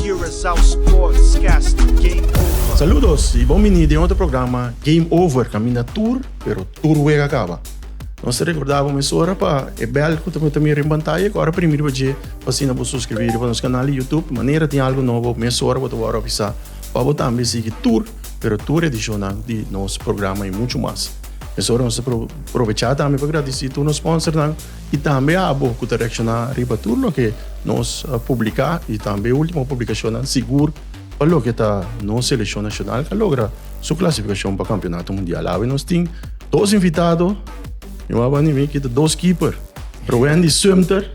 Curaçao Sportscast Game Over. Saludos y bon bini den otro programa Game Over, caminda tur pero tur wega caba. Nos ta recorda bo mesora pa e bel cu ta bo ta mira den pantaya cu ora primi riba dje pa asina bo suscribir riba nos canal di YouTube manera tin algo nobo mesora bo ta worde avisa pa bo tambe sigui tur pero tur edicionnan di nos programa y mucho mas. Mesora nos ta probecha tambe pa gradici tur nos sponsornan. y tambe abo cu ta reacciona riba tur loke nos publica y tambe ultimo publicacionnan sigur pa loke ta nos seleccion nacional ca logra su clasificacion pa campeonato mundial. Awe nos tin dos invitado, mi wou a bani mi kita dos keeper, Rowendy Sumter,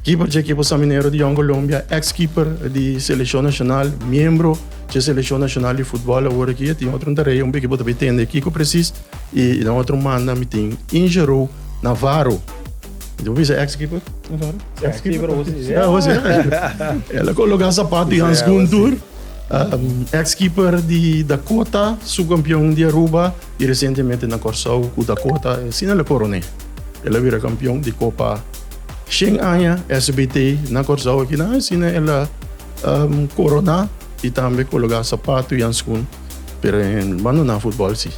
keeper dje ekipo San Minero di Jong Colombia, ex keeper di seleccion nacional, miembro dje seleccion nacional di futbol awor aki, e tin otro un tarea un poco bo ta bay tende kico precies. I na otro manda mi tin Injero Navarro. Mi ta por bisa ex keeper? Navarro? Ex keeper Hosi. Ja, Hosi. El a coloca zapato y handschoen tur. Um, ex keeper di Dakota, subcampeon di Aruba y recientemente na Corsou cu Dakota asina el a coroné. El a bira campeon di Copa Shen Aña SBT na Corsou aki na asina el a, um, coroná y tambe coloca zapato y handschoen. Pero en bando na futbol si.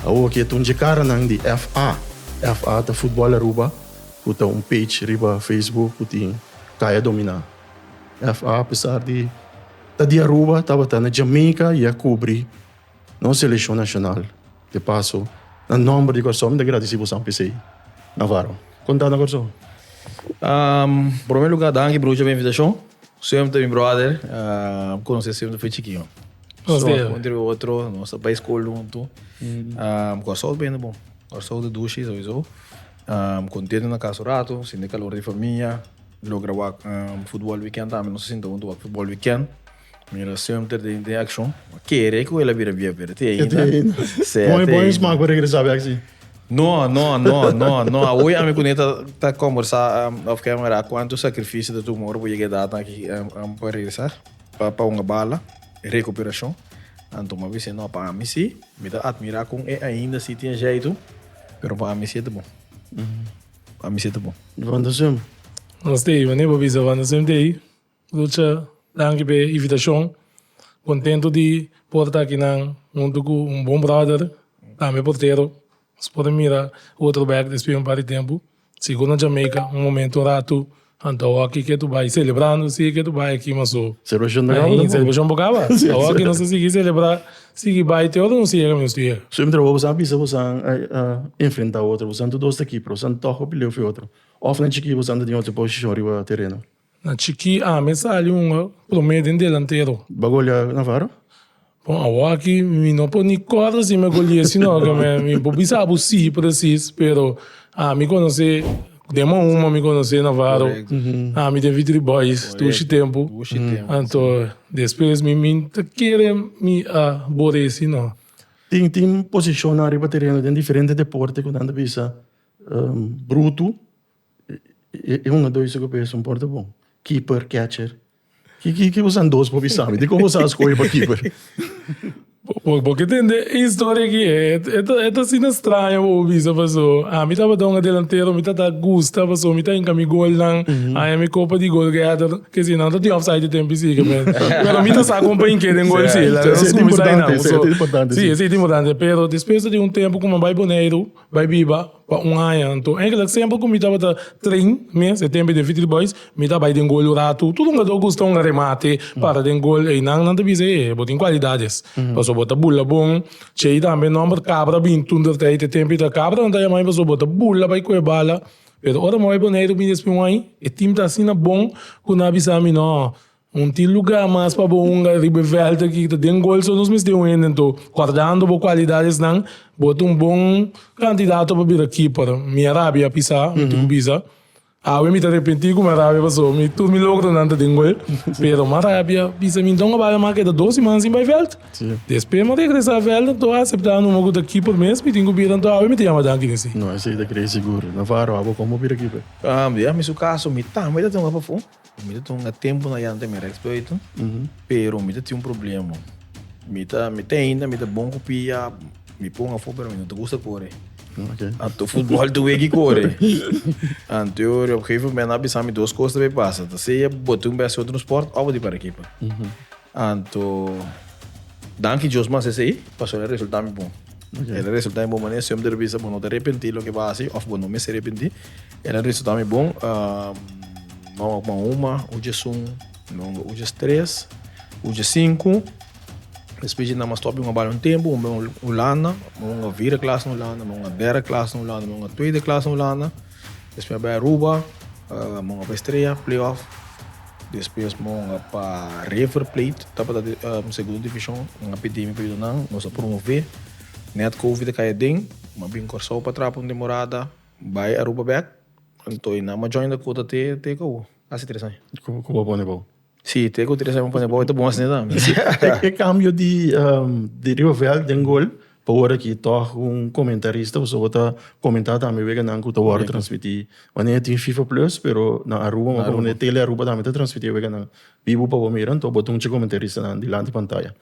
Awo ke ta un dje karanan di FA. FA ta Futbol Aruba ku ta un page riba Facebook ku tin Kaya Dominá. FA apesar di ta di Aruba tabata na Jamaica i a kubri nos seleshon nashonal. De paso, na nomber di Kòrsou mi ta gradisí bo san p'esei, Navarro. Kon ta na Kòrsou? Ahm, promé lugá danki Brucha pa e invitashon. Seum ta mi bròder, mi konos'é seum ta fu e chikiu. Nos ta jua entre otro, nos ta bai skol huntu. Ahm, Kòrsou ta bini bon. Kòrsou ta dushi souizou. Ahm, kontentu na kas un ratu, sinti e kalor di famia, logra wak futbòl wikènt tambe, nos ta sinta huntu wak futbòl wikènt. Mira semper tin tin accion. A kere cu el a bira viejo pero tin aina. Tin aina. Sea tin aina. Bon bon sma cu regresa bek si. No no no no no a hoy ami cu Nita ta combersa of ke mira cuanto sacrificio ta tuma ora bo yega edad aki pa regresa pa un bala recuperacion anto mi a bisa no pa ami si mi ta admira con e ainda si tin jeito pero pa ami si e ta bon pa ami si e ta bon. Wanda Swem. Nos ta ey wani bo bisa Wanda Swem ta ey. Lucha, danki p'e invitashon. Kontentu di por ta akinan huntu ku un bon bròder, tambe portero. Nos por a mira Waterberg despues di un par di tempu, sigur na Jamaica, un momentu ratu. Anto awoki ke ta bai selebrando si e ke ta bai aki mas ho. Serbashon ta kaba tambe. Serbashon por kaba. Awoki nos ta sigui selebrá, sigui bai te ora nos yega mi nos ta yega. So, entre bo boso a bisa ku boso a enfrentá otro, boso anto dos ta kipper, boso antoho pile'é fu e otro òf na chikí boso anto tin otro posishon riba tereno? Na chikí ami a sali un promé den delantero. Bo a goliá Navarro? Bon, awor aki mi no por ni kòrda si mi a goli'é si no. Mi por bisa bo sí presis, pero ami konos'é den mò un, mò mi konos'é Navarro. Ami den Vitry Boys dushi tempu. Anto despues mi mi ta kere mi a bor'é si no. Tin tin posishonnan riba tereno den diferente deporte ku nan ta bisa brutu, E un a doi su kopia esun por ta bon. Keeper, catcher. Ki ki boso andos por bisa mi? Di kon boso a skohe pa keeper? Bo ke tende e historia aki. E ta asina straña pa bo bisa paso ami tabata un adelantero mi ta ta gusta paso mi ta hinka mi golnan haña mi kopa di gol gada ke si nan ta tin offside e tempi si kemen. Pero mi ta sa kon pa hinke den gol si. Esei ta importante, esei ta importante si. Si esei ta importante pero despues ta tin un tempu ku mi a bai Boneiru. Bai biba pa un aña. Anto engelak semper ku mi tabata train mes e tempe den Vitry Boys mi ta bai den gol un ratu. Tur hungadó gusta un remate para den gol. Einan nan ta bisa e bo tin kualidades pasobra bo ta bula bon. Chey tambe nòmber kabra a bini tur dor e tempe ta kabra nan ta yama mi pasobra bo ta bula bai kohe bala. Pero ora mi a bai Boneiru bini espe un aña e tim ta asina bon ku nan a bisa mi nò Un tin lugá mas pa bo hunga riba e vèlt akí, ki ta den gol, so nos mester un hende. Anto, guardando bo kualidadesnan, bo ta un bon kandidato pa bira keeper. Mi a rabia a pisá, mi tin ku bisa. Awe mi ta arepentí ku mi a rabia pasobra mi tur mi logronan ta den gol. Pero mi a rabia a bisa, mi duna bal, mi a keda dos siman sin bai vèlt. Despues mi a regresá vèlt, anto a aseptá numa ku ta keeper mes, mi tin ku bira. Anto awe mi ta yama danki den sí. No, esei ta kere sigur. Navarro, abo kon bo bira keeper? Aa, ya mi su kaso, mi tambe ta tunga pafó. Mi ta tuma tempu na yanta mi rex play tu, pero mi ta tin un problema. Mi ta, mi ta ainda, mi ta bon ku pia, mi pon afo, pero mi no ta gusta kore. Okay. Anto futbol ta weki kore. Anto yo op gegeven momen a bisa mi dos kos ta bai pasa. Ta sea bo ta un bes otro sport of di para ekipa. Anto danki Dios mas esei pasobra e resulta mi bon. El a resulta mi bon manera si homber bisa bo no ta repenti loke bo a hasi of bo no mester repenti. El a resulta mi bon mama ku man uma uj e sun nomber uj es tres uj es sinku. Despues jinda mas stop un bali un tempu un ben Hulanda mi un a vira klas na Hulanda mi un a dera klas na Hulanda mi un a tuede klas na Hulanda. Despues a bai Aruba, mos a pa Estrella, playoff. Despues mos a pa River Plate, tabata Segundo Division. Nan a pidi mi pa yuda nan, nos a promove. Nèt Covid a kai aden, mos a bin Kòrsou pa traba un temporada, bai Aruba bèk. Anto nan mos a join Dakota te kau? Kasi tres aña. Ku ku bo a pone bo? Si, te ku tres ame pone bobo ta bon asina tambe. E kambio di di Rioveld den gol pa ora ki tog un komentarista pasobra bo ta komentá tambe weganan ku ta wòrdu transmití. Manera e tin fifa plus pero na Aruba bo ta wak manera Tele Aruba tambe ta transmití e weganan bibu pa bo mira anto bo ta un chik komentaristanan dilanti pantaya.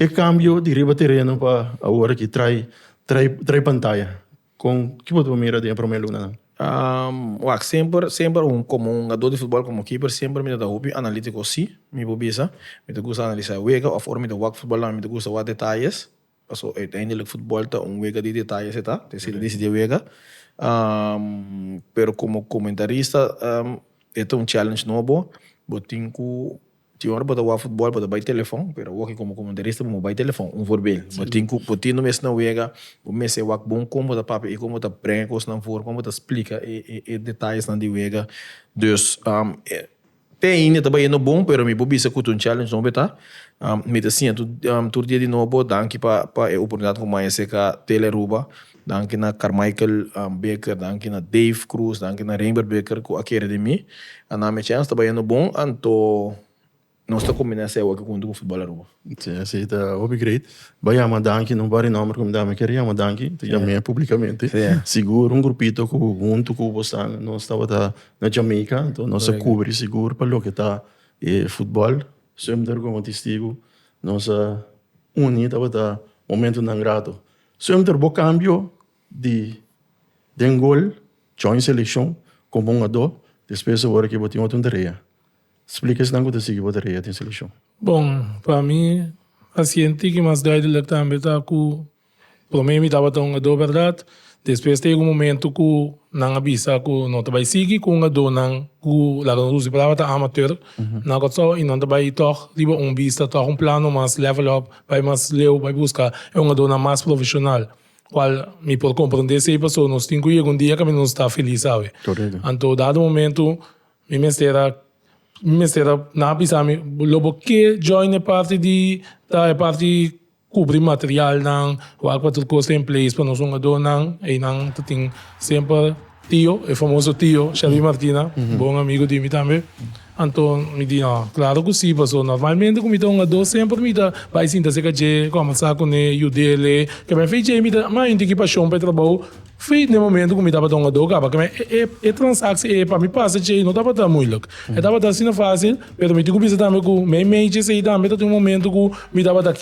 E kambio di riba tereno pa awor aki trai trai trai pantaya. Con ki bo ta por mira den e prome lunanan? Wak, semper, semper un, komo un hugadó di futbòl, komo keeper, semper mi ta ta hopi analítiko, sí, mi por bisa. Mi ta gusta analisá e wega, òf ora mi ta wak futbòl tambe mi ta gusta wak detayes, pasobra uiteindelik futbòl ta un wega di detayes e ta, ta esei disiti e wega. Pero komo komentarista e ta un challenge nobo, bo tin ku Tin ora bo ta wak futbol bo ta bai telefon pero awor komo komentarista bo no bai telefon un voorbeeld bo tin ku bo tin mes na wega bo mester wak bon kon bo ta papia i kon bo ta brenga kosnan for kon bo ta splika e detayesnan di wega dus te ainda ta bai yendo bon pero mi por bisa ku ta un challenge nobo ta mi ta siña tur dia di nobo danki pa e oportunidat ku maya ser ka tele Aruba Danki na Carmichael Baker, danki na Dave Cruz, danki na Reinbert Baker cu a kere di mi. A na mi chance ta bayendo bon anto nos ta combina esey awor aki hunto cu Footbal Aruba. Si, esey ta hopi great. Bo a yama danki, no bari nomber cu mi dame, ker yama danki, ta yam'e publicamente. Sigur un grupito cu hunto cu bo staan, nos tabata na Jamaica, anto nos a cubri sigur pa loke ta e footbal. Sumter como testigo, nos a uni, tabata momentonan grato. Suenter bo kambio di den gol, join selekshon komo un adó, despues a ora ke bo tin otro tarea. Splika esnan ku ta sigui bo tarea den selekshon. Bon, pa mi, pasiente ke mas duidelek tambe ta ku promé mi tabata un adó bèrdat, despues ta yega un momento ku nan a bisa ku no ta bai sigui ku un adónan ku laga nos usa e palabra ta amateur, nan a kòt sou i nan ta bai tòg riba un bista, tòg un plano mas level up. Bai mas leu, bai busca e un adornan mas profesional, cual mi por comprende esey pasobra nos tin cu yega un dia caminda nos ta feliz sabi. Correcto. Anto dado momento mi mester a mi mester a nan a bisa mi lo bo ke join e parti di ta e parti cubri materialnan wak patur cos ta in place pa nos un adornan eynan ta tin semper Tio, e famoso tio, Shelby Martina, bon amigu di mi tambe. Anto mi di, No, claro cu si, pasobra normalmente cu mi ta hungadó semper mi ta bay sinta cerca dje, combersa cune, yudele. Keme fey dje mi ta ama hende ki pasion pa e trabao. Fey n'e momento cu mi tabata hungadó caba. Keme e transacci ey pa mi pasa dje no tabata moeilijk. E tabata asina facil, pero mi tin cu bisa tambe cu mey meytjes ey tambe ta tin un momento cu mi tabata.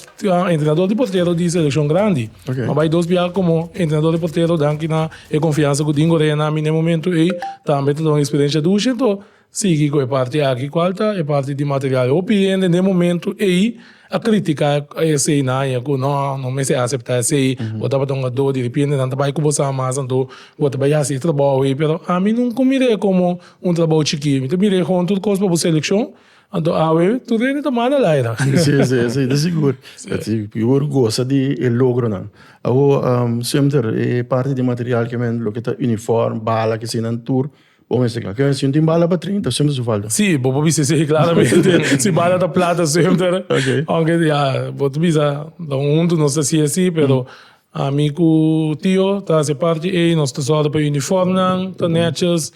Entrenador di portero di seleccion grandi a bai dos biaha como entrenador di portero danki na e confiansa cu Dingo Reina mi na e momento ey tambe ta dor un experiencia dushi enton sigui cu e parti aki cual ta e parti di material hopi hende na e momento ey a critica esey naye cu no no mester a acepta esey bo tabata un ador derepente nan ta bai cu bo sa mas anto bo ta bai hasi e trabajo ey pero ami nunca mir'e como un trabajo chikee mi ta mir'e como tur cos pa bo seleccion. Anto awe tur rende ta manda al aira. Sí, sí, esei ta sigur. Sí. Pi por gosa di e logronan. Awo, um, semter e parti di material ke men, loke ta uniform, bala, ke asina, tur bo mester ka. Ke, si no tin bala pa treinta, semper su falta. Sí, bo por bisa esei klaramente. Si bala ta plata semper. Ok. Aunke, ya, bo ta bisa, lo huntu nos ta hasi así, pero Ami ku Tio ta hasi parti ei. Nos ta sòru pa e unifòmnan ta nètshis,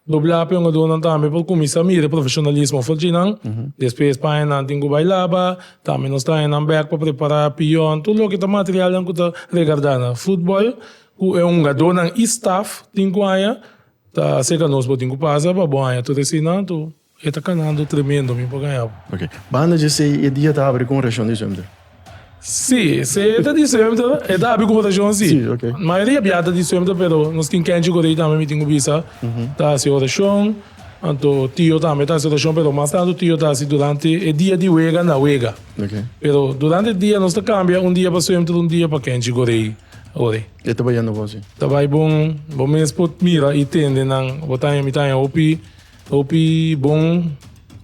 doblá pa e hongadornan tambe pa kuminsá mira profeshonalismo for di nan. Despues pañanan tin ku bai laba, tambe nos traha nan bèk pa prepará piòn, tur loke ta materialnan ku ta regardá na futbòl ku e hongadornan i staf tin ku haña ta seka nos bo tin ku pasa pa bo haña tur e sinan tur. E ta kanando tremendo, mi por gaña bo. Ok, banda dje esei e dia ta abri ku orashon di semter? Sí, seta di semter e ta abri ku orashon sí. Sí, ok. Mayoria biata di semter, pero nos tin kenchi ku rei tambe mi tin ku bisa ta hasi orashon, anto tio tambe ta hasi orashon, pero mas tantu tio ta hasi durante e dia di wega na wega. Ok. Pero durante e dia nos ta kambia un dia pa semter, un dia pa kenchi ku rei ora e. E ta bai yendo bon sí. Ta bai bon, bo mes por mira i tende nan, bo taña, mi taña hopi Hopi bon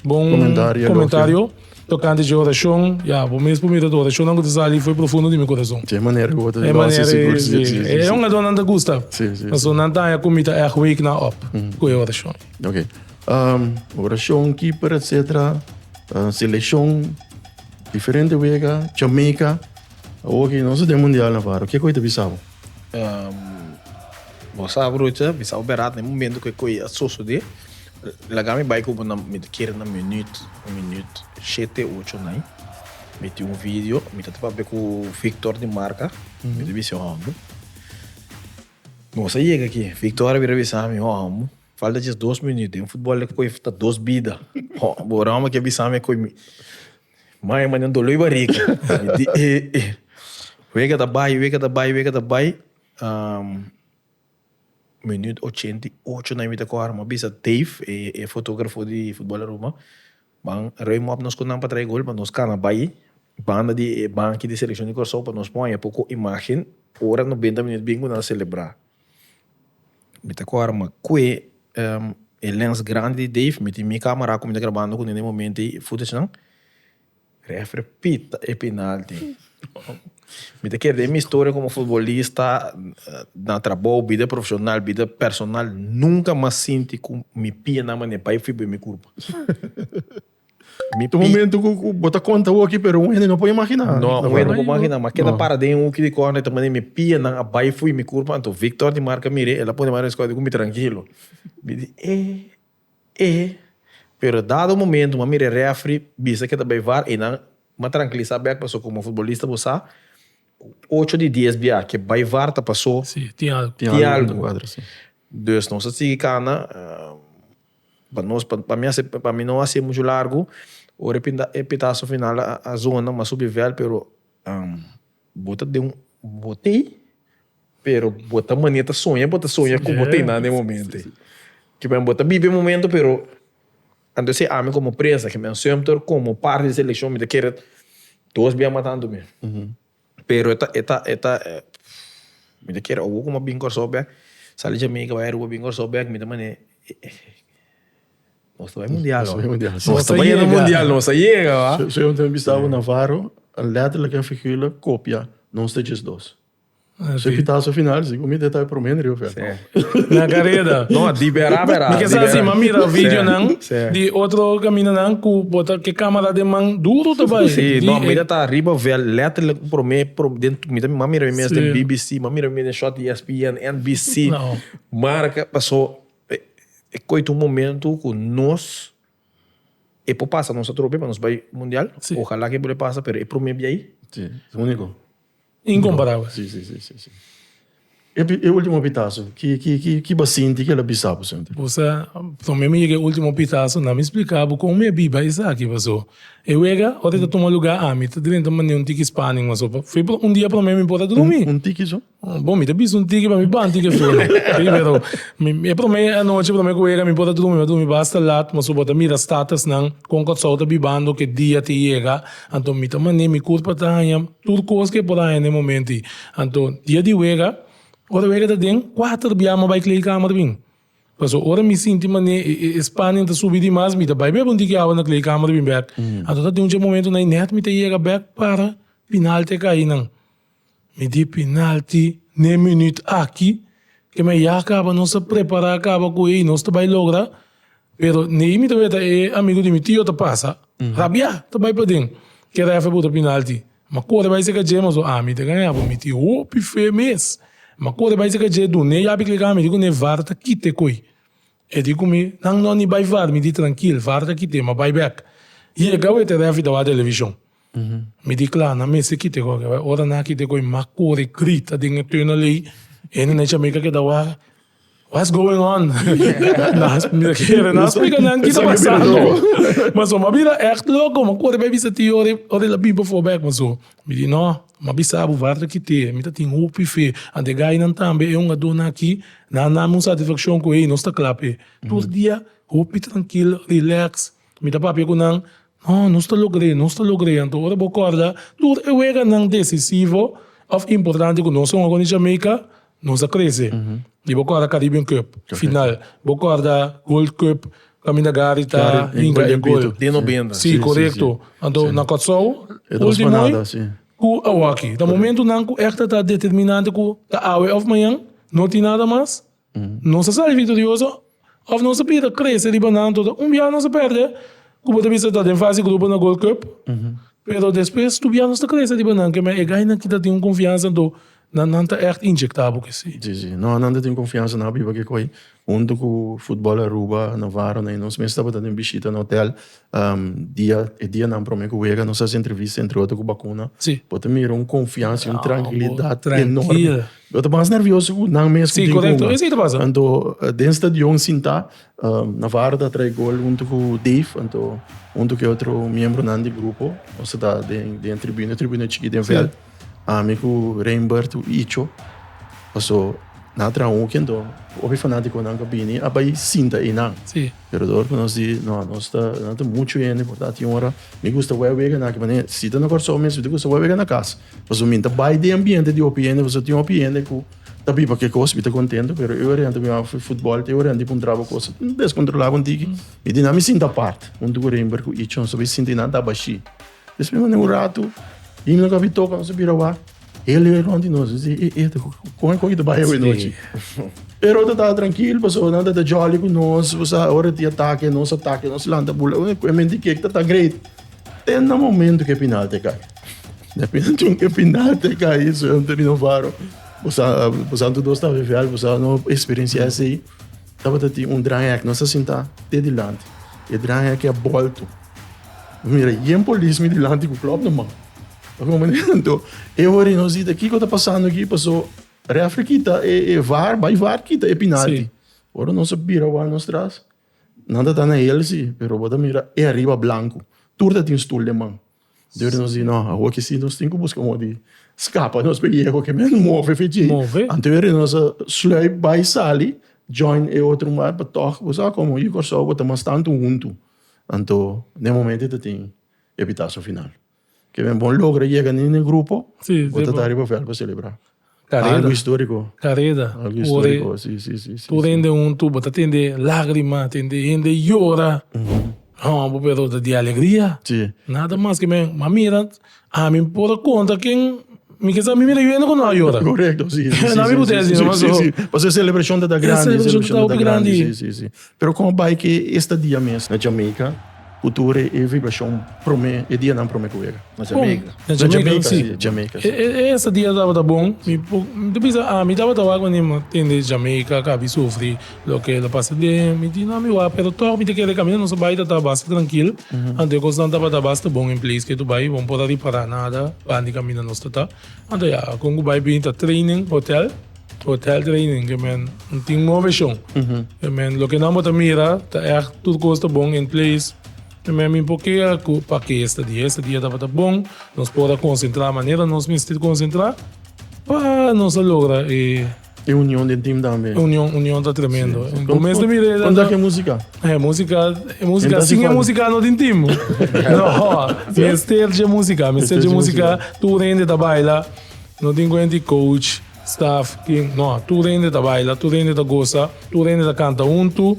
bon Comentario, comentario tocante dje oracion. Ya, bo mes por mira tu oracionnan cu ta sali fo'i profundo di mi corazon. Dje manera cu bo ta E losa manera sigur. es, Sí, sí, sí, e sí. un ador nan ta gusta. Sí, sí, Paso sí. nan ta haña cu mi ta echt wake nan op cu e oracion. Oké. Ehm, oracion, keeper, et cetera. Eh, seleccion, diferente wega, Jamaica. Awor ki nos ta den mundial na Faro, kico i ta bisa bo? bo sa broertje, mi sa operá den momento ku e koi a sosodé. Laga mi bai ku bo na, mi ta kere na minuut, minuut shete, ocho na ai. Mi tin un video, mi ta papia ku Victor di Marca, mi ta bis'é hòmber, bo sa yega aki? Victor a bira bisa mi, hòmber, falta djes dos minuut, den futbòl e koi ta dos bida. Bo oran bo a bisa mi e koi mi. Mai mane un doloi bariga. Mi di e e. Wega ta bai, wega ta bai, wega ta bai. Um, minuut ochenta i ocho na e mita kor, mi a bisa Dave, e e fotografo di Futbol Aruba, Ban rui mop nos ku nan pa trae gol, pa nos kana bai banda di e banki di selekshon di Kòrsou pa nos pon aya poko imagen ora nobenta minuut bin ku nan a selebrá. Mi ta kòrda ma kue e lens grandi di Dave miti mi camera ku mi ta grabando ku nene momento ei e footage nan refri pita e penalti mi ta keda e mi historia komo futbolista na trabou bida profesional bida personal nunka mas sinti ku mi pianan mane bai fi bo e mi kurpa. Mi pi. Un momento cu, cu bo ta conta awo aki, pero un hende no por imagina. No, un hende no por imagina. Ma keda para den hoekje di corner ta manda mi pianan a bay fui mi curpa. Anto Victor di Marca mir'é, el a pone mano scote cu mi tranquilo. Mi di, eh, eh. Pero dado un momento mi a mir'é referee bisa ke ta bay var, einan m'a tranquilisa bek, pasobra como futbolista bo sa cu ocho di dies bia ke bay var ta paso tin algo. Dus nos a sigui cana. Pa nos pa pa mi a ser pa mi no a ser mucho largo ora e petaso final a zona a subi vèl pero bo ta den bo tei pero bo ta manera ta soña bo ta soña cu bo tei nan den e momento ei ci bo ta bibi e momento pero anto sey ami como prensa que mi a sueña ta como parte di seleccion mi ta kere dos bia matan tu mi. Pero e ta e ta e ta mi ta kere owo kuma bin Kòrsou bèk sa di Jamaica bai Aruba bin Kòrsou bèk mi ta mane nos ta bai mundial ho nos ta bai na mundial nos a yega wak. So yo tambe bisa abo Navarro a lètterlijk en figuurlijk kopia nos ta djesdos. So e pitaso final si ku mi ta e promé na riba vèlt. Na careda. No, di bera bera. Mi ke sa si m'a mira videonan di otro caminanan cu bo ta ke camera den man duro ta bay. Si, no, mi ta ta riba veld letterlijk un prome prome den mi ta m'a mira mi mes den bbc, m'a mira mi mes den short ESPN, NBC, marca paso e coito un momento cu nos e por pasa nos atrobe nos bay mundial ojalá que e por a pasa pero e prome biayi. Si, es unico. Incomparabel. Sí, sí, sí, sí, sí. E ultimo pitaso, ki, ki, ki, ki bo a sinti, ki el a bisa bo senter? Bo sa, con mi mi yega e ultimo pitaso, na mi splica bo con mi a biba esaki, paso e wega, ora e ta tuma lugar ami, ta drenta mandi un tiki Spanish, ma so pa, fue pro, un dia prome mi por a drumi. Un tiki so? Bo, mi ta bisa un tiki, pa mi banta i ke fue no. Sí, pero mi, e prome anochi, prome ku wega mi por a drumi, mi a drumi basta lat, ma so bo ta mira statusnan, con Kòrsou ta bibando, ke dia te yega, anto mi ta mandi mi kurpa ta haña. Tur cos que por a hende momento y. Anto, dia di wega, ora wega ta den, cuater bia mo bai kleedkamer bin. Paso, ora mi sinti mane e spanning ta subi di mas, mi ta bai bek un tiki awa na kleedkamer bin bek. Anto ta den un dje momento na y net mi ta yega bek para penalty a kai nan. Mi di penalty n'e minuut aki, ke mi a ya caba, nos a prepara caba cu e y nos ta bai logra. Pero Nehi mi ta weta e amigu di mi tio ta pasa rabia, ta bai paden ke ref e bota pinalti, ma kore bai seka dje maso ami ta gaña bo mi tin hopi fe mes, ma kore bai seka dje dun e yabi kleka ami di kune var ta kit e koi, e di ku mi nan no ni bai var mi di trankil var ta kit e ma bai bek, yega wet e refi ta wak televishon. Mi di kla, nan mester kita e gògè bai. Ora nan kita e gògè, m'a kore grita den e tuna lei. E hende na Jamaica a keda wak, What's going on? Mi kere nan splika nan kiko ta pasando. Mas so m'a bira ègt loko, m'a kore bai bisa tio Ori, Ori la bin pafó bèk. Mas so mi di, Nò, m'a bisa bo wàrda kiti. Mi ta tin hopi fe. Ant e gainan tambe, e hungadónan akí, nan a dame un satisfakshon ku ei nos ta kla p'e. Tur dia hopi trankil, rilèks. Mi ta papia ku nan, No, nos ta logr'é, nos ta logr'é. Anto ora bo kòrda tur e weganan desisivo òf importante ku nos a wòrdu di Jamaica, nos a krese. I bo kòrda Caribbean Cup, final. Bo kòrda Gold Cup kaminda Gary ta hinka e gol. Sí, korekto. Anto na Kòrsou, último ei ku awòkí. Ta momentunan ku ègt ta determinante ku ta awe òf mañan, no tin nada mas. Nos a ser victorioso of nos a bira crece riba nan todo? Un bia nos a perde cu bo ta bisa ta den fase grupo na Gold Cup pero despues tur bia nos ta crece riba nan kema e gainan kita tin un confiansa anto nan nan ta echt inyecta bo ke si. Si si no nan ta tin confiansa nan a biba keko ayi hunto cu Footbal Aruba na Varo nos mes tabata den bishita na hotel dia e dianan prome ku wega nos hasi entrevista entre otro ku bakuna bo ta mira un konfiansa un trankilidad enorme bo ta mas nervioso ku nan mes ku tin kunga anto den stadion sinta Navarro ta trae gol huntu ku Dave anto huntu ku e otro miembronan di grupo nos ta den tribuna tribuna chikit den vèlt. Ami ku Reinbert ku Icho, paso nan a traha un weekend dor. Hopi fanatikonan ku a bini a bai sinta einan. Sí. Pero dor ku nos di, no, nos ta, nan ta muchu hende, por tanto tin un ora mi gusta wei a wega na aki manera. Si ta na Kòrsou mes mi ta gusta wei a wega na kas. Paso mi ta bai den ambiente di hopi hende, paso tin hopi hende ku ta biba kikos mi ta kontento, pero e ora mi wak futbòl, e ora mi pon traba kos deskontrolá kontiki. Mi di nan mi sinta apart huntu ku Reinbert ku Icho, nos a bai sinta einan ta bashí. Despues mi manda un ratu bini loke a bin toka nos a bira wak, e lei rond di nos, e si, e, e, kon e kon ki ta bai awe nochi? Pero ta ta trankil, pasobra nan ta ta jolly ku nos, bo sa, ora tin atake nos, atake nos, lanta bula, e ku e menti ke ta ta great. Te na momento ku e pinalti a kai. Na momento ku e pinalti a kai, so, mi ta bira un faro, bo sa, bo sa, anto dos ta veve al, bo sa, no, e eksperensia esei. Tabata tin un dranghek nos a sinta te dilanti e dranghek a bolto mi mira yen polis mi dilanti ku klòp na man a komandento e ora nos di kiko ta pasando aki paso refri kita e var bai var kita e pinalti ora nos a bira wak nos tras nan ta ta na helsi pero bo ta mira e ariba blanku tur ta tin stul den man Dios nos di, No, awo aki si nos tin ku buska modi di skapa nos p'e yega, pasobra nos move fe dje. Anto wèr di nos a slui bai sali join e otro mar, pa tòg bo sa komo yu i Kòrsou bo ta mas tantu huntu. Anto den momento ei ta tin e pitaso final. Ke men bo logra yega niña den e grupo, bo ta ta riba vèl pa selebrá. Algo historico. Careda. Algo historico, si, si, si. Tur hende huntu, bo ta tende lagrima, tende hende yora. Hobo, pero ta di alegria. Si. Nada mas ke men, m'a mira, ami por a konta ken mi ke sa mi mira yu hende ku no a yora. Korekto, si, si, si. Nan mi ku desi, no? Si, si, si. Pasobra e selebrashon ta grandi. E selebrashon ta hopi grandi. Si, si, si. Pero con a bai cu e estadia mes na Jamaica cu tur e vibracion prome, e dianan prome cu wega. Na Jamaica? Con? Na Jamaica, si. Na Jamaica, si. E estadia tabata bon. Mi ta bisa, ah, mi tabata wak manera mi tende Jamaica ca mi sufri loke lo pasa den. Mi di, nah, mi wak, pero toch mi ta kere caminda. Nos a bai tata basta trankil. Anto e cosnan tabata basta bon en place ketu bai. Bo no por a ripara nada bandi caminda nos tata. Anto ya, kon ku bai bini ta training hotel, hotel training, ke men no tin move shon. Ke men, loke nan bo ta mira, ta ègt tur kos ta bon in place. Ke men mi por kera ku pa ke estadia, estadia tabata bon, nos por a konsentrá manera nos mester konsentrá pa nos a logra e. E union den team tambe. Union union ta tremendo. Sí. Bo mes te mire. Kon tak e música? E música, e música sin e música no tin team. no. Mester je música, mester je música. Tur hende ta baila. No tin kuenta e coach, staff, kin. No, tur hende ta baila, tur hende ta gosa, tur hende ta kanta huntu.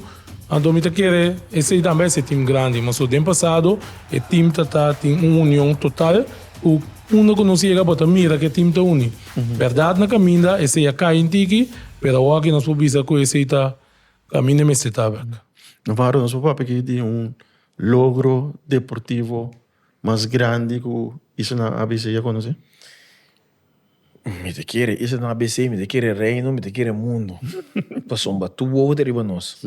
Anto mi ta kere esei tambe a ser team grandi. Maso den pasado e team ta ta tin un union total ku unda ku nos yega bo ta mira ku e team ta uni. Berdad na caminda esey a cay intiki, pero awor aki nos por bisa cu esey ta caminda e mester tabak. Nos wou nos por papia aki di un logro deportivo mas grandi cu Eastern na ABC a conoce? Mi ta kere Eastern na ABC, mi ta kere Reino, mi ta kere Mundo. Pasobra a tur wou ta riba nos.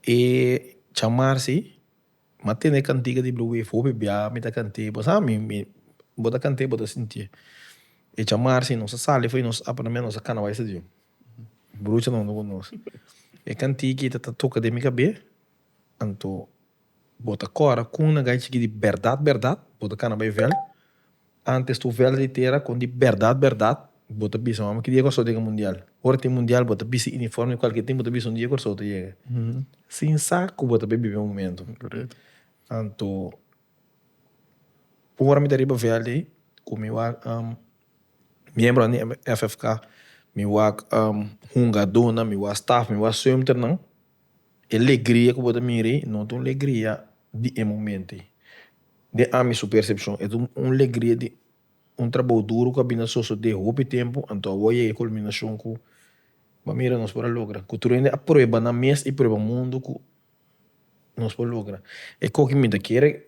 E chamar si. M'a tende e cantica di Blue Wave for pe bia mi ta cant'e, bo sa mi mi bo ta cant'e bo ta sinti'e. E chamar si nos a sali fo'i nos a pone nos a cana bay stadium. Bruchanan ta cu nos. E cantichi ta ta toca den mi cabe anto bo ta cora cun nagai chiki di berdad berdad bo ta cana bay veld. Antes tur velda di tera con di berdad berdad bo ta bisa mama ki dia cu a so yega mundial. Ora tin mundial bo ta bisti uniforme di cualkier tin bo ta bisa un dia cu a so ta yega. Sin sa cu bo ta bibi e momento. Anto ora mi ta riba velda ey cu mi wak miembronan di FFK mi wak hungadornan mi wak staff mi wak suimternan. E legria ku bo ta mira ei no ta un legria di e momento ei. Den ami su percepcion e ta un legria di un trabou duru ku a bini a sosode hopi tempu anto awor a yega e kulminacion ku bo a mira nos por a logra. Ku tur hende a prueba nan mes i prueba mundu ku nos por logra. E kokimin ta kere.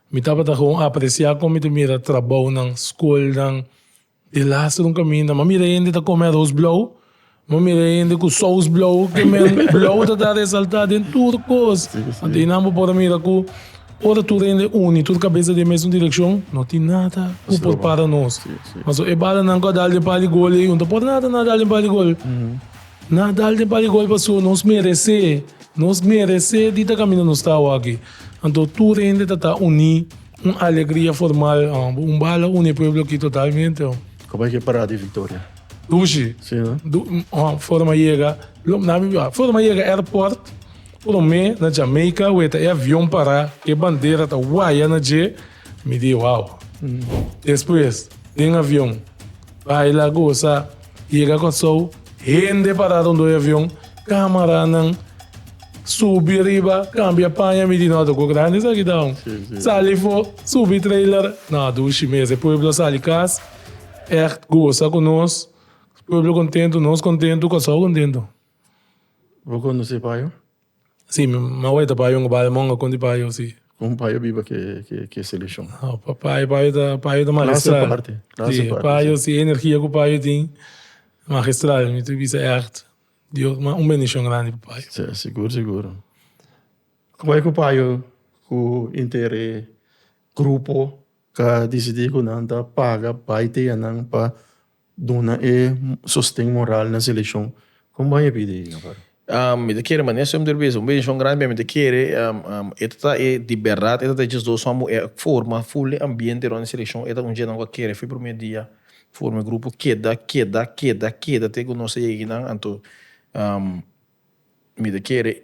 Mi tabata gewoon apreciá kon mi ta mira trabounan, scolnan di laster un caminda. M'a mira hende ta come aros blou, m'a mira hende cu sous blou, cu men blou ta ta resaltá den tur cos. Anto einan bo por a mira cu ora tur hende uni, tur cabeza den mesun direccion, no tin nada cu por para nos. Ma so e balanan cu a dal den par di gol ei, un ta por nada na dal den par di gol. Na dal den par di gol pasobra nos merecé. Nos meresé di ta kaminda nos tau aki, anto tur hende ta ta uní, un alegria formal, un bala uni e pueblo aki totalmente. Como es ki e parada di Victoria? Dushi, forma yega, forma yega airport, prome na Jamaica weta e avion para, e bandera ta waya na dje. Mi di wow. Despues den avion baila, goza, yega Kòrsou, hende pará rondó e avion, kámaranan subi riba, kambia paña, mi di nò doko grandi esaki ta un. Sali fo, subi trailer, nò dushi mes, e pueblo sali kas ègt goza ku nos, pueblo kontentu, nos kontentu, Kòrsou kontentu. Bo konosé Payo? Sí, mi mawe ta payo un bale monga con di payo, sí. Con un payo biba que que es eleccion? No, pa payo, payo ta, payo ta magistral. Clase aparte, clase aparte. Sí, payo, si e energia cu payo tin, magistral, mi ta bisa echt, Dios, ma un bendicion grandi pa payo. Sí, sigur, sigur. Como es cu payo cu inter e grupo ta dicidi cu nan ta paga bay teyanan pa Duna e sosten moral na seleccion. Con bay a pidi Navarro? Mi ta kere mane esum tur bes. Un bendición grandi p'e mi ta kere. E ta ta e di berdad e ta ta e djes dos hombr cu e a forma ful e ambiente rond e seleccion. E ta un dje nan cu a kere fin primer dia forma e grupo keda keda keda keda te cu nos ta yega aki nan. Anto mi ta kere.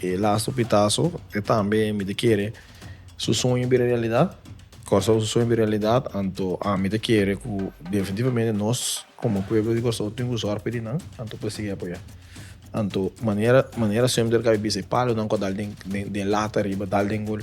E laso pitaso e tambe mi ta kere su sueño bira realidad Curaçao ta su sueño bira realidad anto ami ta kere cu definitivamente nos como pueblo di Curaçao tin cu zorg pidi nan anto por sigui apoya anto manera manera siempre kabe bisa e palonan cu a dal den den lata riba dal den gol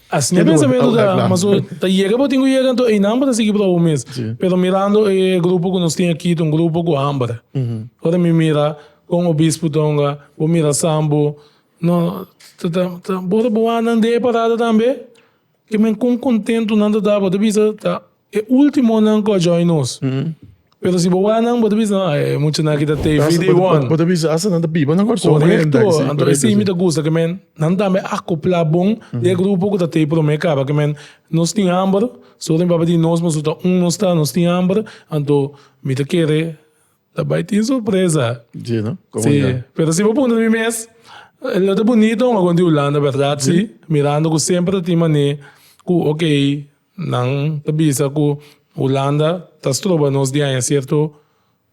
Asina e pensamentu ta, ma so ta yega bo tin ku yega anto einan bo ta sigui proba bo mes. Pero mirando e grupo ku nos tin aki ta un grupo ku hamber. Ora mi mira kon obispo tonga, bo mira Sambo, no ta ta ta ora bo wak nan den e parada tambe, kimen kon kontentu nan ta ta bo ta bisa ta. E ultimonan cu a join nos. Pero si bo waranan bo ta bisa, No, e muchanan aki ta te Bo ta vida y asa, won. bo ta bisa, asa nan ta biba nan corazon hende Correcto. aki, sí, Anto correcto, esey mi sí. ta gusta cu men nan tambe acopla bon den e grupo cu ta te prome caba cu men. Nos tin hamber, so mi papá di nos, mas su ta un nos ta, nos tin hamber, anto mi ta kere ta bay tin sorpresa. Sí, no? Como Sí, ya? pero si bo puntra mi mes, eh, lo ta bunito un agon di Hulanda, berdad? Sí, mirando cu semper ta tin manera cu, ok, Nan ta bisa ku Hulanda ta stroba nos di haña sierto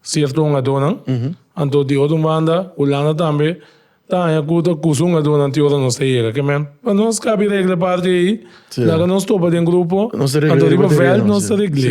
sierto hungadónan. Anto di otro banda Hulanda tambe ta haña ku ta kusa hungadónan ti ora nos ta yega. Ke men pa nos kabi regla parti ei, laga nos topa den grupo, anto riba vèlt nos ta regl'é.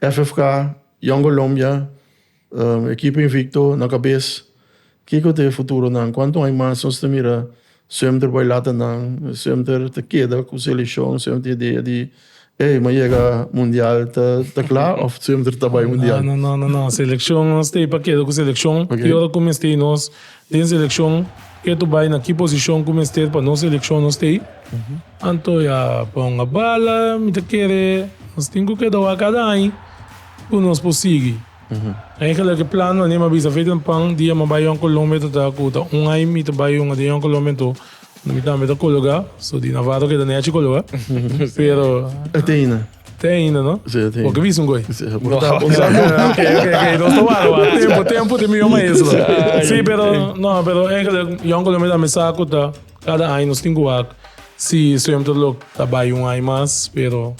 FFK, Young Colombia, ekipo invicto na cabes, kico ta e futuronan? Cuanto ai mas nos ta mira semter bai latanan, semter ta keda cu seleccion, semter idea di ey m'a yega mundial ta cla of semter ta bai mundial? No no no no no seleccion nos ta ei pa keda cu seleccion y ora cu mester nos Den seleccion ke to bai na ki posicion cu mester pa nos seleccion no stay? Anto ya ponga bala mi ta kere nos tin cu keda wak cada aña cu nos por sigui. Eigenlijk e plan wanneer mi a bisa Faith and Pang dia mi a bai Jong Colombia ta ta cu ta un aña mi ta bai hunga den Jong Colombia anto mi tambe ta cologa so di Navarro keda nechi cologa pero. Ateina. Te ainda no? Sí, te. Bo ke bisa un goy? Sí, bo ta bosa no. Ok, ok, ok. Nos ta wara, wara. Tempu, tempu di mi yo maestro. Sí, pero, no, pero eigenlijk, Jan Colombia tambe sa cu ta cada aña nos tin cu wak si zwemterlok ta bai un aña mas, pero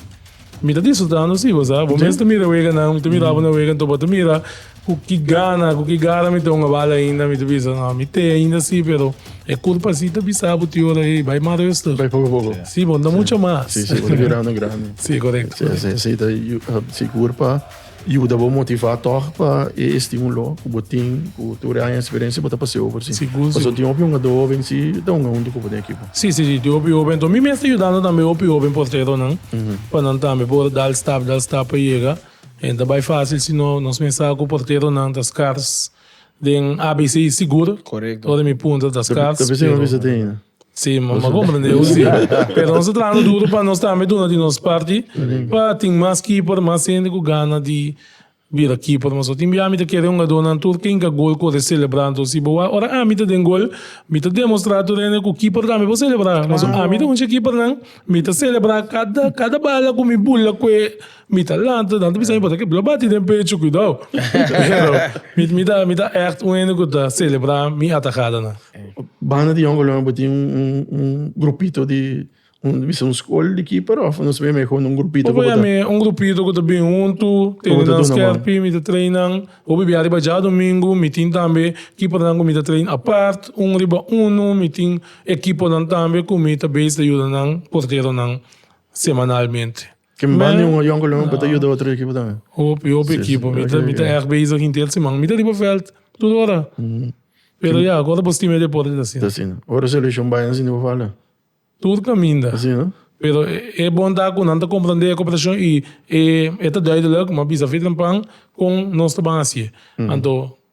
mi ta disfrutando si, bo sa. Bo mes ta mira weganan, mi ta mirabo na wegan, tobo ta mira. Ku ki gana, ku ki gara mi ta hongabal ainda, mi ta bisa, no, mi t'e ainda si, pero e kurpa si ta bisa bo ti ora, hey, bai mas rustu. Bai poko poko. Si, bo no ta mucha mas. Si, si, bo ta bira no grandi. Si, korekto, korekto. Esei, esei ta sigur pa yuda bo motivá tòg pa e estímulo ku bo tin, ku tur e aña eksperensia bo ta pas'é over si. Sigur, sigur. Pasobra tin hopi hongadó hoben si e ta honga huntu ku bo den ekipo. Si, si, si, tin hopi hoben. Enton mi mes ta yudando tambe hopi hoben porteronan pa nan tambe por dal stap, dal stap pa yega. E ta bai fásil si no nos mensá ku porteronan ta skars den abc sigur. Ora mi punta ta skars, pero. Sí, mi a komprendé bo sí. Pero nos ta trahando duru pa nos tambe duna di nos parti pa tin mas keeper, mas hende ku gana di bira keeper. Pasobra tin bia mi ta kere hungadónan tur ke hinka gol ku ora selebrá. Anto si bo wak ora ami ta den gol mi ta demostrá tur hende ku keeper tambe por selebrá. Pasobra ami ta un di e keepernan mi ta selebrá kada kada bala ku mi bula kue. Mi ta lanta, dan ta bisa mi pasobra ke lo bati den pecho, kuidou. Pero, mi, mi ta, mi ta echt un hende ku ta selebrá mi atakadanan. Banda di Yongo Luna bo tin un, un, un grupito di, un, bisa un skol di ki paròf o nos mihó un grupito ku bo ta. Hopi yam'é un grupito ku ta bin huntu, tene nan skèrpi, mi ta train nan hopi bia riba djadumingu, mi tin tambe kipornan ku mi ta train apart, un riba unu, mi tin ekiponan tambe ku mi ta beis ta yuda nan porteronan semanalmente. Ke mandi un avion ku leu pa ta yuda otro ekipo tambe. Hopi hopi ekipo. Mi ta mi ta èg bezig henter siman. Mi ta riba vèlt tur ora. Pero ya agora bo stima e deporte ta asina. Ta asina. Ora seleccion bai nan sinti bo falta. Tur kaminda. Asi no? Pero e bon ta ku nan ta komprendé e koperashon i e ta duidelijk, mi a bisa Fitz Lampan kon nos ta ban hasié. Anto.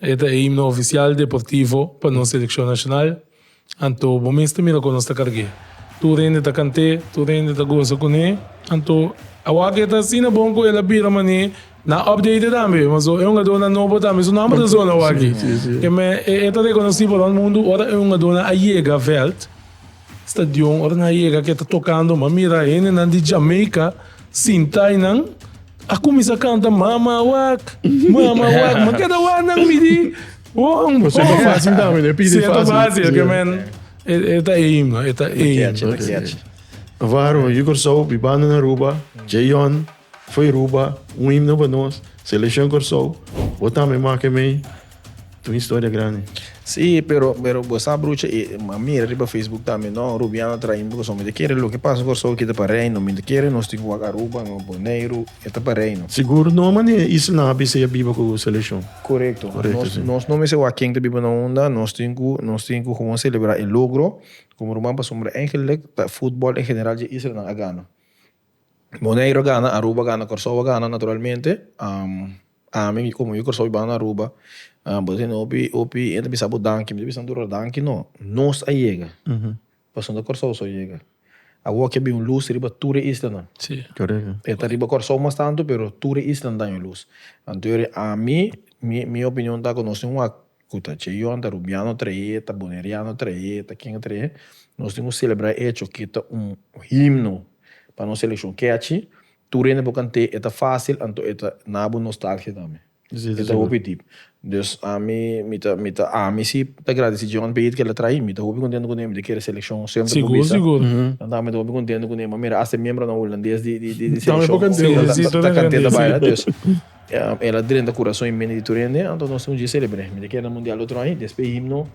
E ta e himno oficial deportivo pa nos seleccion nacional, anto bo mes ta mira con nos ta carg'e. Tur hende ta cant'e, tur hende ta goza cun'e, anto awor ke ta asina bon cu el a bira man'e na update tambe, ma so e hungadornan nobo tambe su nomber ta zona awor aki. E ta reconoci pa rond mundo ora e hungadornan a yega veld. Stadion, ora nan a yega ke ta tokando mi a mira henenan di Jamaica sinta y nan a kuminsá kanta mama wak, mama wak, ma keda wak nan midi won, won. Seta fácil tambe, no e pidi fácil. Seta fácil, ke men e ta eim, e ta eim. Waarom yu Kòrsou, mi banda na Aruba, Jayon. Fo'i Ruba un himno pa nos Seleccion Corsou Bo tambe make mei ta un historia grandi. Sí, pero pero bo sa brucha e a mira riba Facebook tambe no Rubiano train bo cosom mi ta kere loke pasa Corsou kita pa reino mi ta kere nos tin cu wak Aruba no Boneiru e ta pa reino. Sigur no mane isla a bisa ya biba cu seleccion. Corecto nos nos no mester wak ken ta biba na unda nos tin cu nos tin cu gewoon celebra e logro como ruman pasobra eigenlic ta footbal en general dje islanan a gana. Bonaire a gana, Aruba a gana, Kòrsou a gana naturalmente, ami mi komo yu Kòrsou mi banda na Aruba, bo ta tene hopi hopi hende ta bisa bo danki, mi ta bisa Anturra danki no, nos a yega, pasobra no ta Kòrsou so a yega, awor aki a bin un lus riba tur e islanan, e ta riba Kòrsou mas tantu pero tur e isla a daña lus, anto yori ami mi mi opinion ta ku nos tin un wak. Cu ta Cheyón, ta Rubiano trae, ta Boneriano trae, ta ken a trae, nos tin cu celebra e hecho que ta un himno pa nos seleccion catchy, tur hende por cant'e, e ta facil anto e ta na bo nostalgia tambe, e ta hopi deep. Dus ami, mi ta, mi ta, ami si ta gradici Cheyón p'e hit cu el a trae, mi ta hopi contento cu ne'e, mi ta kere seleccion semper por bisa, anto mi ta hopi contento cu ne'e, mi ta mira hasta e miembronan Hulandes di seleccion ta cant'e ta baila, dus. El a drenta kurason y menti di tur hende, anto nos tin un dje selebre. Mi ta keda na mundial otro aña, despe himno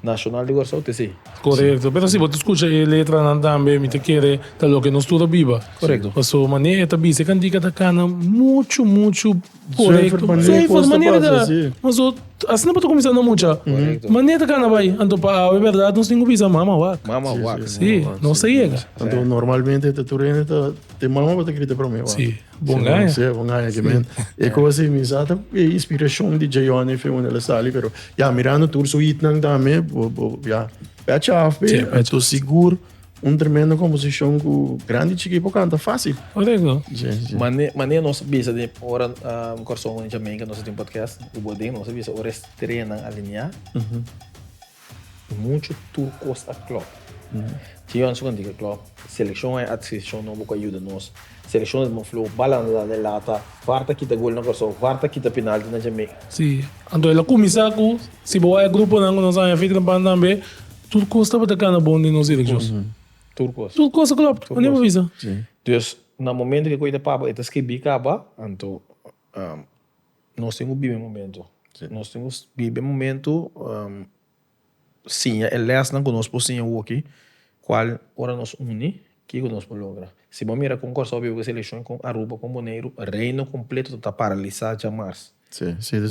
nashonal di Kòrsou te esei. Korekto, pero si bo ta skucha e letranan tambe mi ta kere ta loke nos tur a biba. Korekto. Paso mane e ta bisa, e kantika ta kana muchu, muchu korekto. Zuiver, mane e ta, paso asina bo ta kuminsá na mucha. Korekto. Mane e ta kana bai, anto pa awe bèrdat nos tin ku bisa mama wak. Mama wak. Si, nos ta yega. Anto normalmente ta tur hende ta, te mama bo ta kiri ta promé wak. Si. Bon gaya. Si, bon gaya ki men. E kos ei mi sa ta e inspirashon di Jayone fen unda el a sali, pero ya mirando tur su hitnan tambe, bo, bo, ya pèchi af pe. I to sigur un tremendo komposishon ku grandi chikí por kanta fásil. Korek no? Si, si. Mane, mane nos a bisa den ora Kòrsou Jamaica nos a tin podcast, ku bo den nos a bisa ora e strea nan alineá. Mucho tur cos a Klopp. Ci Johan Sukhan di ke Klopp, seleccion hay ata seleccion no bo ka yuda nos. Seleccion es mo floho, bal anda dal e lata, var ta kita gol na Corsou, var ta kita penalti na Jamaica. Si, anto el a cuminsa cu, si bo hay gruponan cu nos haña fik den pan tambe, tur cos tabata cana bon den nos direccion. Tur cos. Tur cos a Klopp, mandi bo bisa. Dus, na momento cu e coye ta paba, e ta scribi caba, anto, Nos tin cu bibi e momento. Nos tin cu bibi e momento, siña e lesnan cu nos por siña awoki, cual ora nos uni, kico nos por logra. Si bo a mira con Curaçao biba cu e seleccion, con Aruba, con Boneiru, reino completo ta ta paralisa dja mars.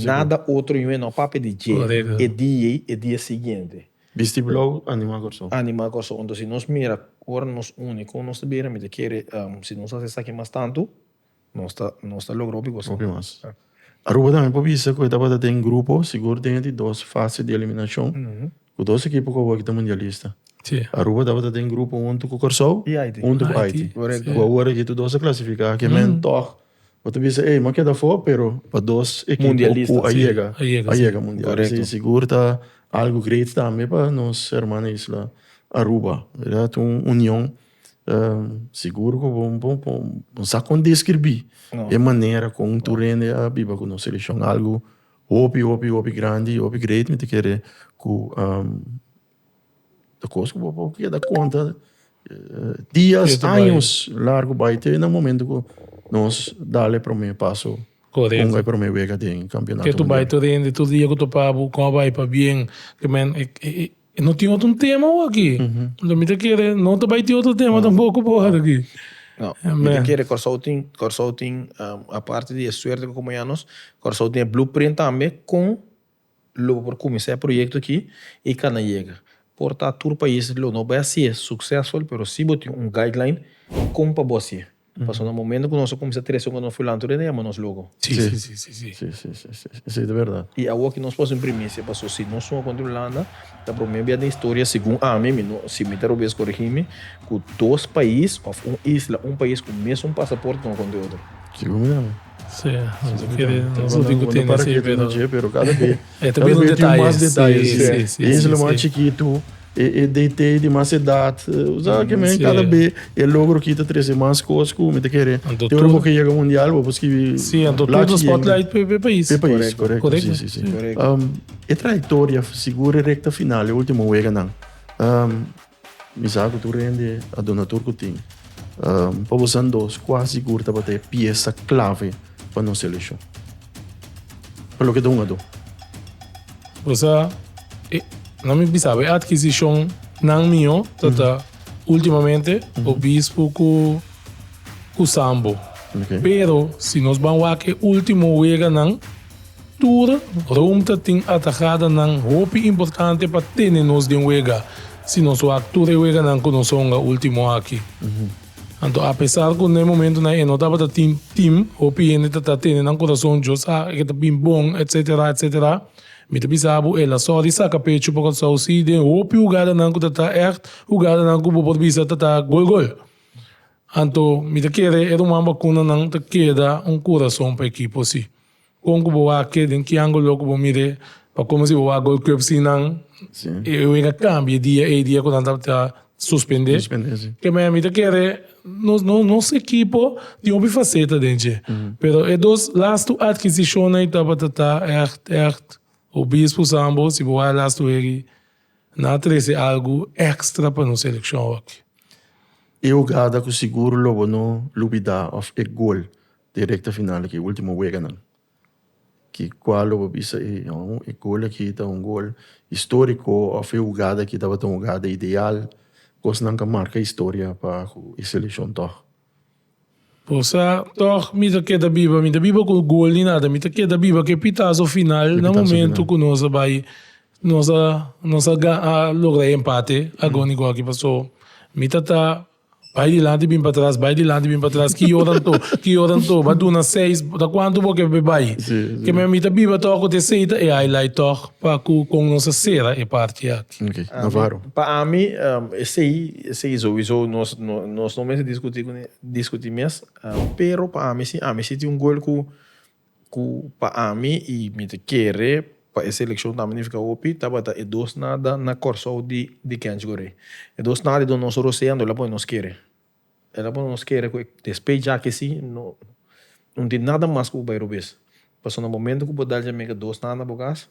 Nada otro yuwe no a papia di dje, e dia ey, e dia siguiente. Bisti blau, anima Curaçao. Anima Curaçao. Entonces si nos mira ora nos uni con nos ta bira, mi ta kere si nos haci esaki mas tanto. Nos ta nos ta logra hopi cosa. Hopi mas. Aruba tambe por bisa cu e tabata den grupo, sigur den e di dos fase di eliminacion, cu dos ekipo cu awor ki ta mundialista. Si. Aruba tabata den grupo hunto cu Corsou. I Haiti. Hunto cu Haiti. Haiti. Correcto. Cu awor aki tu dos a clasifica, aki men toch bo ta bisa ey, no a keda afo, pero pa dos ekipo. Mundialista. Cu a yega. Si, a yega, si. A yega mundial. Correcto. Así sigur ta algo great tambe pa nos hermana isla Aruba, word, un union. Sigur ku bo bo bo bo sa kon deskribí e manera kon un turende a biba ku nos selekshon. Algu hopi hopi hopi grandi, hopi great mi ta kere ku ta kos ku bo bo keda konta dias, años largu bai te na momentu ku nos dal e promé paso, ponga e promé wega den kampionato mundial. E no tin otro tema bo aki. Enton mi ta kere no ta bai tin otro tema tampoco bo wak aki. No, mi ta kere Kòrsou tin, Kòrsou tin, aparte di e suerte ku komo ya nos, Kòrsou tin e blueprint tambe kon lo bo por kuminsá e proyekto aki i kanda yega. Por ta tur pais lo no bai hasié suksesful, pero si bo tin un guideline kon pa bo hasié. Pasobra na momento cu nos a cuminsa trece con nos fulantu rei, no yama nos lugo. Si, si, si, si, si. Si, si, si, si. Esey ta berdad. Y awo aki nos pa haci un primicia, pasobra si nos sunga contra Hulanda, ta promé bia den historia, segun ami, mi no, si mi ta robes corigi mi, cu dos pais of un isla, un pais cu mesun pasaporte tonga contra e otro. Segun mi tambe. Si, nos a kere, nos a tin cu tene esey, pero. Segun mi tambe, nos a tin cu tene esey, pero cada be. E ta bira un detaye, si, si, si. E isla mas chikitu, e detei di mas edat, bo sa ke men kada be e logro aki ta trese mas kos ku mi ta kere. Te ora bo ke yega mundial bo por skibi lak si yende. Si, anto tur spotlight p'e pais. P'e pais, korekto, si, si, si. E trayektoria, sigur e rekta final, e ultimo weganan, Mi sa ku tur hende a duna tur ku tin. Pa bosan dos, kua sigur tabata e piesa klave pa nos selekshon? Pa loke ta un ado. Bosa e na mi bisaba e adkisishonnan mio ta ta ultimamente obispo ku ku sambo. Pero si nos ban wak e ultimo weganan Tur rumta tin atahadanan hopi importante pa tene nos den wega si nos wak tur e weganan ku nos honga último aki. Anto apesar ku na e momentunan e no tabata tin tim, hopi hende ta ta tene nan kurason Dios a ke ta bin bon, etc. Etc. Mi ta bisa bo el a sòri saka pechu pa Kòrsou si den hopi hugadanan ku ta ta ègt hugadanan ku bo por bisa ta ta gol gol. Anto mi ta kere e ruman bakunanan ta keda un kurason pa ekipo si. Kon ku bo a ke den ki angulo ku bo mir'é pa komo si bo a gol kwepsi nan e wega kambia e dia ei dia ku nan ta suspendé? Keme mi ta kere nos ekipo tin hopi faseta den dje pero e dos lastu adkisishonnan ei tabata ta ègt ègt obispusan bo si bo a lastu eri. Nan a trece algu extra pa nos seleccion hockey. E hogada cu sigur lo bo no lubida of e gol di e recta final aki, e ultimo weganan, ki cua lo bo bisa e gol aki ta un gol historico of e hogada aki tabata un hogada ideal, cosnan ca marca historia pa cu e seleccion tog. Por sa tòg mi ta keda biba, mi ta biba ku gol ni nada, mi ta keda biba ku e pitaso final na momentu ku nos a bai nos a nos a logra e empate agoni ku aki paso mi ta ta bai dilanti bin patras bai dilanti bin patras ki ora anto ki ora anto ba duna seis ta kuantu bo ke bai mi ta biba tòg ot esei ta e highlight tòg pa ku kon nos a sera e parti aki. Okay. Ami, Navarro. Pa ami, um, esei, esei sowieso nos, no, nos no mester discuti, discuti mes, um, pero pa ami si, ami si tin un goal ku, ku pa ami i mi te kere pa e seleccion ta magnifica hopi, tabata e dos nada na Kòrsou di, di Kench Goree. E dos nada dor nos roceando, el a pone nos kere. El a pone nos kere ku e, despei djaki si, no, no tin nada mas ku bo bai robes. Pasobra na momento ku bo dal dje mega dos nada na bo kas,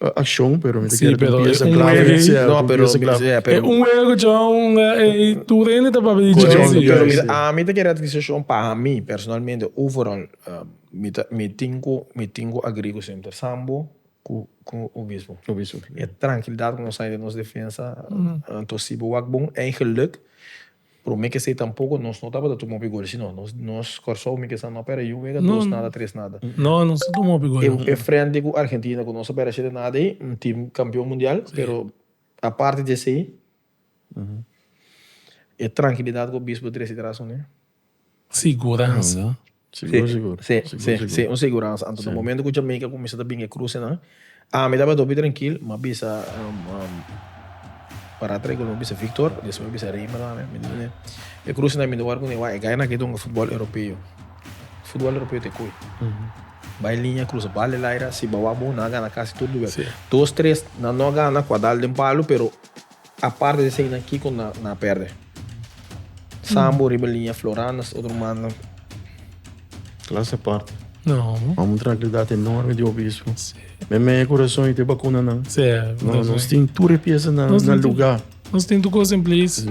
uh, accion, pero mi te sí, pero un pieza clave. Juego, sí, no, un pero, pieza clave. Yeah, pero... un juego, John, eh, tu rende te papi di John. Sí, pero mira, a mi te quiere adquisición para mí, personalmente, overall, uh, mi, ta, mi tengo, mi tengo agrigo siempre sambo, ku ku obispo. Obispo. E tranquilidad ku nos de nos defensa, mm. uh, to sibo wak bon, en geluk, Prome kesey tampoco nos no tabata tuma hopi gol sino nos Corsou mi kesa no pera yu wega dos nada tres nada e frente cu Argentina cu nos a pera shete nada ey un team campeon mundial pero aparte di esey e trankilidad cu Obispo trece traso ne. Siguransa. Sigur sigur. Sí, sí, sí, un seguransa. Anto na momento ku Jamaica kuminsá ta bin e krusenan, ami tabata hopi trankil, m'a bisa pará trei kos, m'a bisa Victor, despues m'a bisa Reimer tambe. Mi di, e krusenan mi ta wòrdu kundé, wak, e gainan akí ta hunga futbòl Europeo. Futbòl Europeo ta e koe. Bai liña, krusa bal di laira, si bo a wak bo, nan a gana kasi tur lugar. Dos, tres, nan no a gana ku a dal den palu, pero. Aparte di eseinan kiko nan a perde? Sambo riba liña Florana es otro mannan. Klas e parte. No. Mama un trankilidat enorme di hopi isu. Me mei e kurason i te bakunanan. Sí. No, nos tin tur e piasanan na luga. Nos tin tur kos en plis. Sí.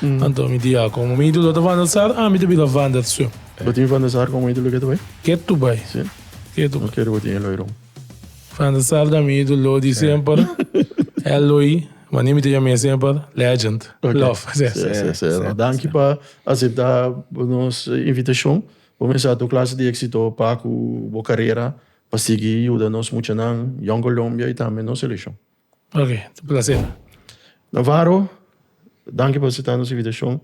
Anto mi diakon, ma mi idolo ta Vander Sar, ami ta bira Vander Sue. Bo tin Vander Sar komo idolo ketu bai? Ketu bai. Si? Ketu bai. Kere bo tin Eloy Rom? Vander Sar ta mi idolo di semper. Eloy, mane mi ta yam'e semper, legend. Okay. Love. Si, si, si. Si, si. Danki pa asepta nos invitashon. Bo mensha tur klase di éksito pa ku bo karera, pa sigui yuda nos muchanan, Young Colombia i tambe nos selekshon. Ok, ta placer. Navarro, danki pa asepta nos invitashon.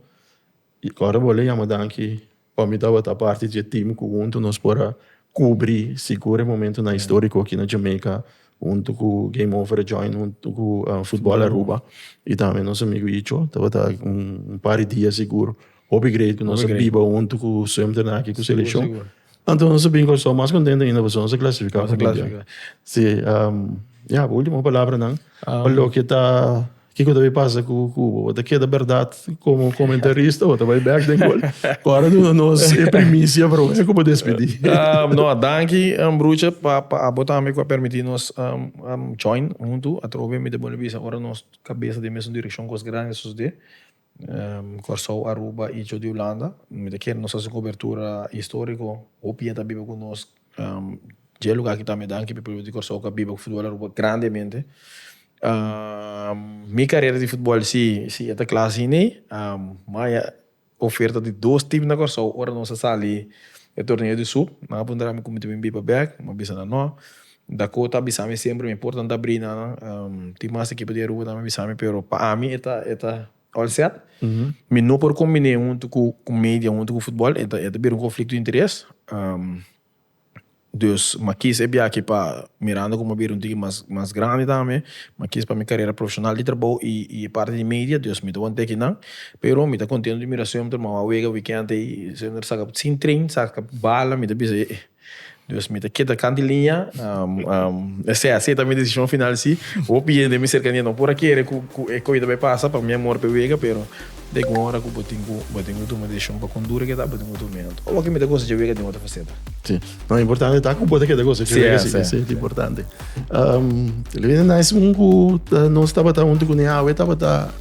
I ora bo a yama danki pa mi tabata parti di e tim ku huntu nos por a kubri sigur e momentunan históriko aki na Jamaica, huntu ku Game Over a join huntu ku Futbòl Aruba i tambe nos amigu Icho. Tabata un par di dia sigur hopi great ku nos a biba huntu ku Sumter aki ku selekshon. Anto nos a bin cu so mas contento ainda cu so nos a clasifica Nos a mundial. clasifica. Si, um, ya, bo ultimo palabranan pa loke ta, kico ta bai pasa cu Cuba? Bo ta keda berdad como comentarista o ta bai bek den gol? Ora duna nos e primicia pa Roberto cu bo despidi. Um, no, danki, um, brucha, pa, pa abo tambe cu a permiti nos, um, um, join huntu. Atrobe mi ta bolbe bisa ora nos cabeza den mesun direccion cos grandi a sucede. Kòrsou, Aruba i Tjo di Hulanda. Mi ta kere nos hasi un kobertura históriko. Hopi hende ta biba ku nos dje e lugá ki ta mi danki pi pueblo di Kòrsou ku a biba ku futbòl Aruba grandemente. Mi karera di futbòl sí, sí e ta kla sin ei. Maya oferta di dos tim na Kòrsou ora nos a sali e torneo di sup. Nan a puntra mi ku mi ta bin biba bèk, mi a bisa nan nò. Dakota a bisa mi semper mi portan ta brina nan tin mas ekipo di Aruba tambe a bisa mi pero pa ami e ta e ta all set mi no por kombiné huntu ku ku media huntu ku futbol e ta e ta bira un konflikto di interes dus mi a kis e biaha pa mirando komo a bira un tiki mas mas grandi tambe mi a kis pa mi karera profeshonal di trabou i i e parti di media dus mi ta wòrdu tèkiko nan pero mi ta kontento di mira sempter mi a wak wega wikènt ei sempter saka sin tren saka bala mi ta bisa ey. Dios mi ta keda kan di liña esei asei ta mi desishon final si hopi hende mi serkania no por a kere ku e koi ta bai pasa pa mi amor p'e wega pero dek un ora ku bo tin ku bo tin ku tuma desishon pa kon dura ke ta bo tin ku tuma e anto o loke mi ta gosa dje wega den otro faseta. Si no importante ta ku bo ta keda gosa dje wega si esei ta importante tal ves nice un ku nos tabata huntu kuné awe tabata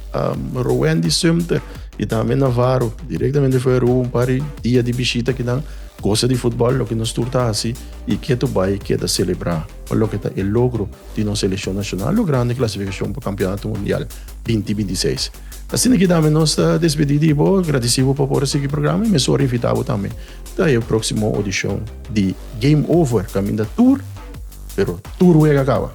Roendi Sumter i tambe Navarro direktamente Feru un par di dia di bishita kinan. Gosa di futbòl loke nos tur ta hasi i ke tur bai e keda selebrá pa loke ta e logro di nos selekshon nashonal logrando e klasifikashon pa Kampionato Mundial binti binti seis. Asina ki tambe nos ta despedí di bo, gradisí bo pa por a sigui e programa i mesora invitá bo tambe ta e próksimo odishon di Game Over kaminda tur pero tur wega kaba.